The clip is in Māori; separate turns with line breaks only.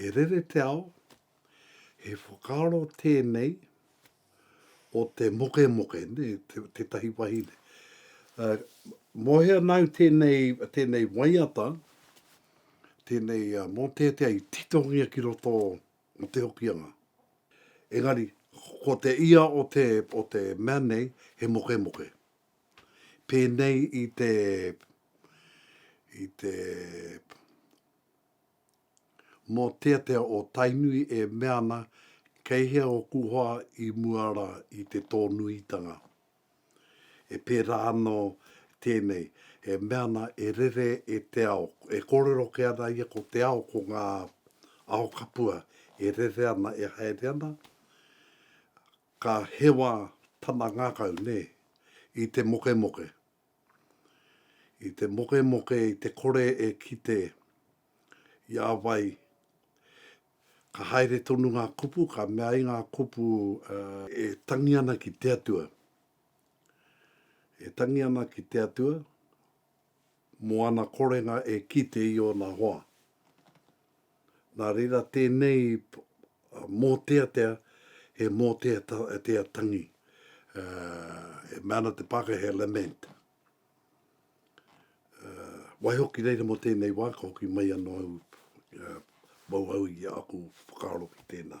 E rere te ao, he whakaaro tēnei o te mokemoke, tētahi wahine. Mōhea nāu tēnei waiata, tēnei mōteatea i titongia ki roto o Te Hokianga. Engari, ko te ia o te mea nei, he mokemoke. pēnei i te i te mōteatea o Tainui e mea ana kei hea ōku hoa i mua rā i te tōnuitanga. E pērā anō tēnei, e mea ana e rere e te ao, e kōrero kē ana ia ko te ao ko ngā ao kapua e rere ana e haere ana, Ka hewa tana ngakau, ne, i te mokemoke. I te mokemoke, i te kore e kite i a wai. Ka haere tonu nga kupu, ka mea ai nga kupu, e tangi ana ki te Atua. E tangi ana ki te Atua. mō ana korenga e kite i ōna hoa. Nā reira tēnei mōteatea he mōteatea tangi, e mea ana te Pākehā he lament. Waihoki reira mō tēnei wā ka hoki mai anō au, mau au i aku whakaaro ki tēnā.